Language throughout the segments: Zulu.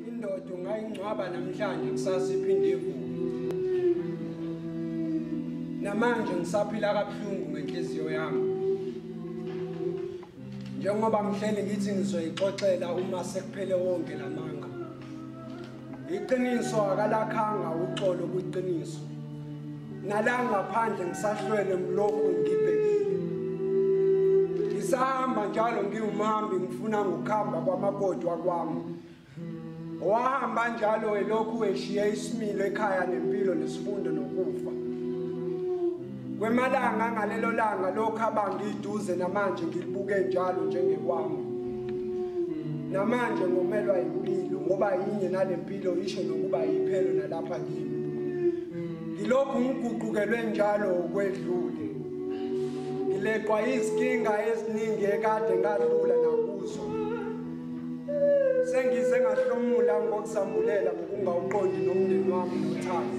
Indoda ungayingcwaba namhlanje kusasa iphinde ivuke. Namanje ngisaphila kabuhlungu ngenhliziyo yami. Njengoba mhleli ngithi ngizoyixoxela uma sekuphele wonke lamanga. iqiniso akalakhanga uxolo kwiqiniso nala ngaphandle ngisahlwele ngilokhu ngibhekile ngisahamba njalo ngiwumhambi ngifuna ngokuhamba kwamakoti wakwami wahamba njalo elokhu eshiye isimilo ekhaya nempilo nesifundo nokufa Kwemalanga ngalelo langa lokho abangiduze namanje ngilibuke njalo njengekwami. Namanje ngomelwa impilo ngoba yinye nalempilo isho nokuba yiphelo nalapha kimi. Ngilokhu ngiguqukelwe njalo ukwedlule. Ngileqwa izinkinga eziningi ekade ngadlula nakuzo. Sengize ngahlomula ngokusambulela ngokungawuqondi nomndeni wami nothando.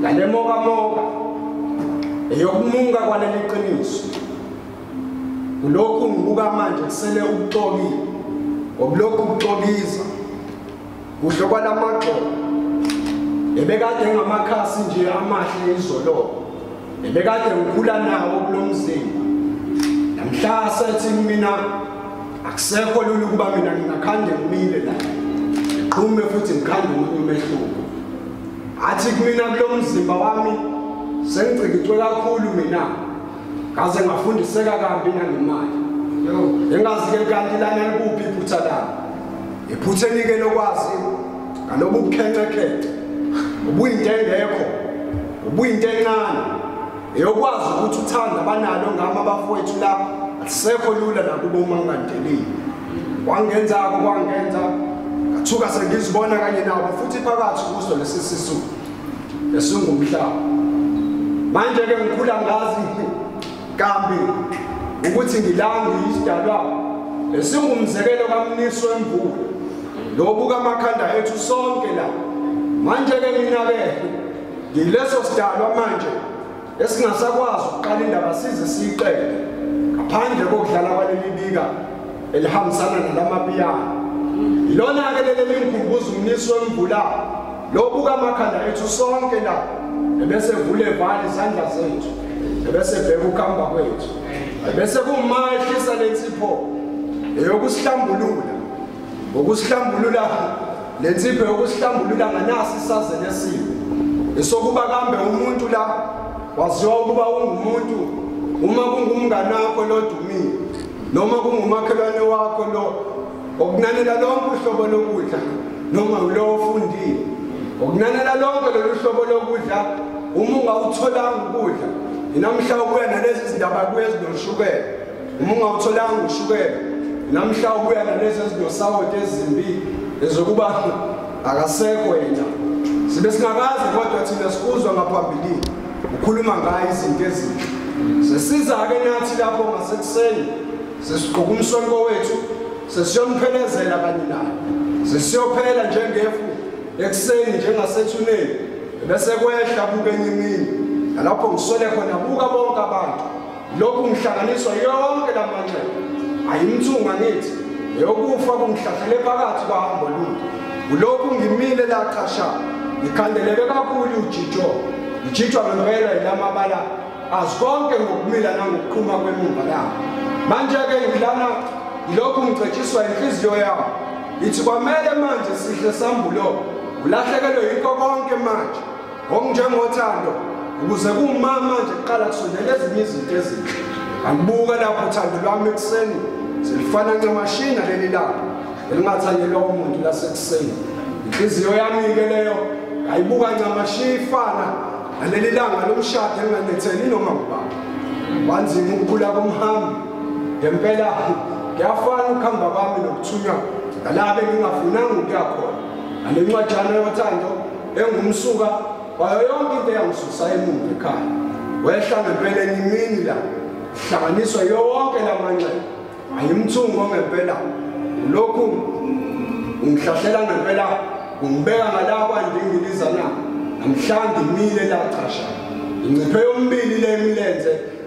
ngalemokamoka eyokumunga kwaleli qiniso kulokhu ngibuka manje kusele ukuxokile ngokulokhu kuxokiza kuhle kwalamagxobo ebekade ngamakhasi nje amahle izoloko ebekade ngikhula nawo kulo mzimba namhla sethi mina akusekho lula ukuba mina ngingakhande ngimile la ngiqhume futhi ngikhande umuntu umehluko athi kumina kulo mzimba wami sengicikicwe kakhulu mina ngaze ngafundiseka kambi nangemali engazi-ke kanti lana likuphi iphutha lami iphutha enike lokwazi ngalobu bukhencekhece ubuyinto engekho ubuyinto encane eyokwazi ukuthi uthanda abanalo ngami abafowethu la alisekho lula nakubo uma ungandelile Wangenza-ko kwangenza ngathuka sengizibona kanye nabo futhi phakathi kuso lesi sisu esingumhlaba. Manje-ke ngikhula ngazi kambi ukuthi ngilangu yisidalwa esingumzekelo kamniso wemvula lobu kamakhanda ethu sonke la manje-ke mina-ke ngileso sidalwa manje esingasakwazi ukuqala indaba size siyiqede ngaphandle kokudlala kwaleli bika elihambisana nalamapiyana yilona-ke leli elingikhumbuza umnisi wemvula lobuka amakhanda ethu sonke la ebese vule vali izandla zethu ebese bheka ukuhamba kwethu ebese kumahlisa lensipho eyokusihlambulula Ukusihlambulula le nsipho yokusihlambulula nganasi isazele esibi. Esokuba kambe umuntu la waziwa ukuba ungumuntu uma kungumngane wakho lodumile noma kungumakhelwane wakho lo okunanela lonke uhlobo lokudla noma ulowo ofundile okunanela lonke lolu hlobo lokudla uma ungawutholanga ukudla inamhla ukuya nalezi zindaba kuye ezinoshukela uma ungawutholanga ushukela namhla ubuya nalezi ezinosawoti ezimbi ezokuba akasekho yena sibe singakazi kodwa thina sikuzwa ngaphambilini ukhuluma ngayo izinto ezinhle sesiza-ke nathi lapho ngasekuseni sesigqoka umsonko wethu sesiyomphelezelela kanye naye sesiyophela njengefu ekuseni njengasethuneni bese kwehla buke enyimini nalapho ngisole khona buka bonke abantu Lokhu ngihlanganiswa yonke lamanxeba ayimthunga ngithi eyokufa kungihlahlele phakathi kwahambo lude kulokhu ngimile lachasha ngikhandeleke kakhulu ujijo ngijijwa ngempela yilamabala azi konke ngokumila nangokuqhuma kwemumba yami manje-ke ngilana yilokhu ngigcetshiswa inhliziyo yami ithi kwamele manje sihle sambulo ulahlekelwe yikho konke manje Ngokunjengothando ukuze kumama nje kuqala kusondela ezinye izinto ezinhle. Angibuka lapho uthando lwami ekuseni selifana ncamashina leli langa elingathanyelwa umuntu lasekuseni. Inhliziyo yami-ke leyo ngayibuka ncamashiya ifana naleli langa lomshado elinganetheli noma ngubani. Wanzima ukukhula komhambi ngempela kuyafana ukuhamba kwami nokuthunywa nalaba engingafunanga ukuya khona. Nale ncwajana yothando engumsuka wayo yonke into eyangisusa emuva ekhaya wehla ngempela enye imini la hlanganiswa yonke la manxeba ayimthungo ngempela lokhu ungihlahlela ngempela ungibeka ngala kwandingiliza na namhlanje imile lacasha inciphe yombili le imilenze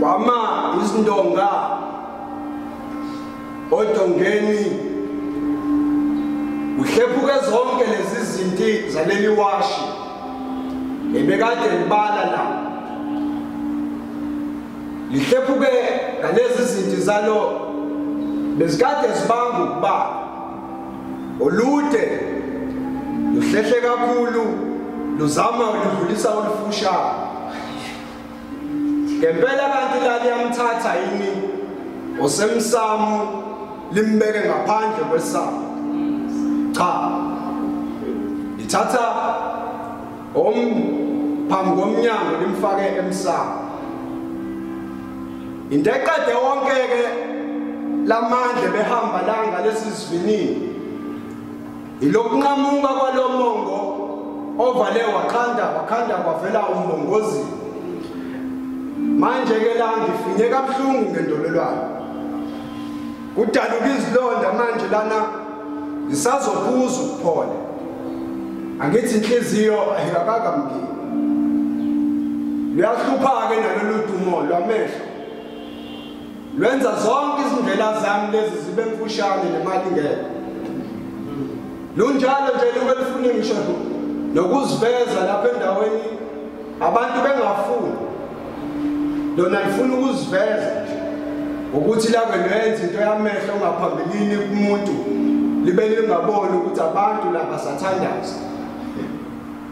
kwama izindonga odongeni uhlephuke zonke lezi zinti zaleli washi ebekade libala la lihlephuke ngalezi zinti zalo bezikade zibanga ukubala olude luhlehle kakhulu luzama ludlulisa olufushane ngempela kanti la liyamthatha yini osemsamo limbeke ngaphandle kwesamo cha lithatha om phambi komnyango limfake emsamo into eqede wonke ke lamandla behamba langa lesisivinini ilokunqamuka kwalomongo ovale wakhanda wakhanda kwavela umbongozi manje ke la ngifinye kabuhlungu ngendololwane Kudaluka izilonda manje lana ngisazophuza ukuphola. Angithi inhliziyo ayikakaka mngeni. Luyahlupha-ke nalolu dumo lwamehlo. Lwenza zonke izindlela zami lezi zibe mfushane nemali ngeke. Lunjalo nje luke lifune ngisho nokuziveza lapha endaweni abantu bengafuni lona lifuna ukuziveza ukuthi lake lenza into yamehlo ongaphambilini kumuntu libe lingaboni ukuthi abantu laba sathandaza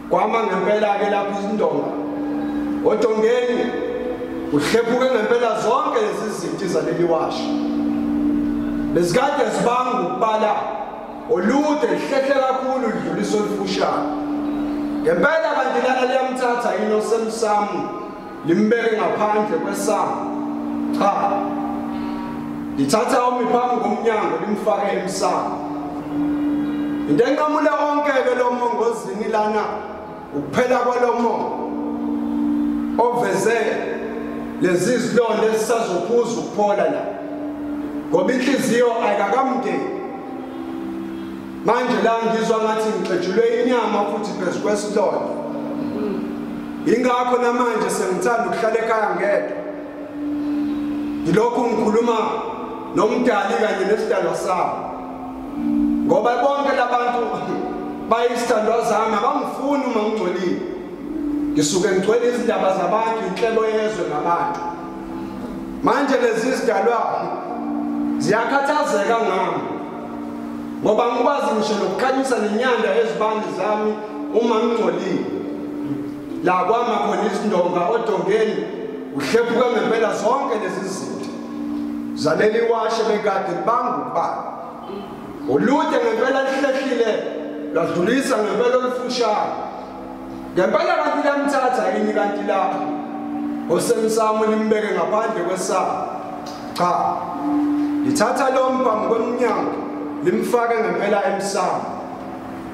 kwama ngempela-ke lapho izindonga odongeni kuhlephuke ngempela zonke lezi zinti zaleliwasha bezikade zibanga ukubala olude lihlehle kakhulu lidlulisa olufushane ngempela kanti lana liyamthatha yini osemsamu limbeke ngaphandle kwesamu cha lithatha omi phambi komnyango limfake emsamu into enqamule onke-ke lo mongozini lana Ukuphela kwalomo oveze lezi zilonda esisazophuza ukuphola la ngoba inhliziyo ayikakamdeni manje la ngizwa ngathi ngixetshulwe inyama futhi phezu kwesilonda ingakho namanje sengithanda ukuhlala ekhaya ngedwa ngilokhu ngikhuluma nomdali kanye nesidalwa sami ngoba bonke labantu bayisithandwa zami abangifuni uma ngingcolile ngisuke ngigcwele izindaba zabantu inhlebo yezwe ngabantu manje lezi zidalwa ziyakhathazeka ngami ngoba ngikwazi ngisho nokukhanyisa nenyanda ezibandi zami uma ngingcolile la kwama khona izindonga odongeni uhlephuke ngempela zonke lezi zinto Zaleli washe bekade bangubani. Ulude ngempela lihlehlile ladlulisa ngempela olufushane. Ngempela kanti lamthatha yini kanti lapho. Osemsamo limbeke ngaphandle kwesaba. Cha. Lithatha lo mphambi kwemnyango limfake ngempela emsamo.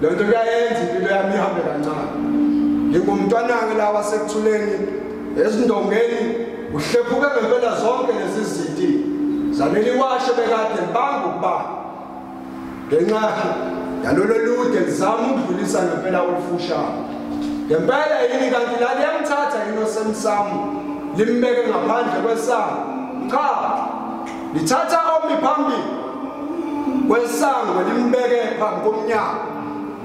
Lo nto kuyayenza impilo yami ihambe kancane. Ngingumntwanange la wasekuthuleni ezindongeni uhlephuke ngempela zonke lezi ziti zaneli washe bekade banga ukuba ngenxa yalolo lude lizama ukudlulisa ngempela olufushane ngempela yini kanti la liyamthatha yini osemsamo limbeke ngaphandle kwesango cha Lithatha omi phambili kwesango limbeke phambi komnyango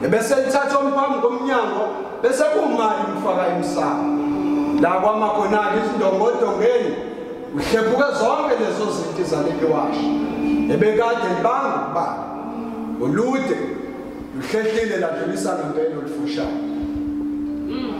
ebese lithatha omi phambi komnyango bese kumali umfaka emsamo la kwamakhonake izindongodongeni uhlephuke zonke lezo zinto izaleli washo ebekade libanga ukubala olude luhlehlile ladlulisa ngempela olufushane mm.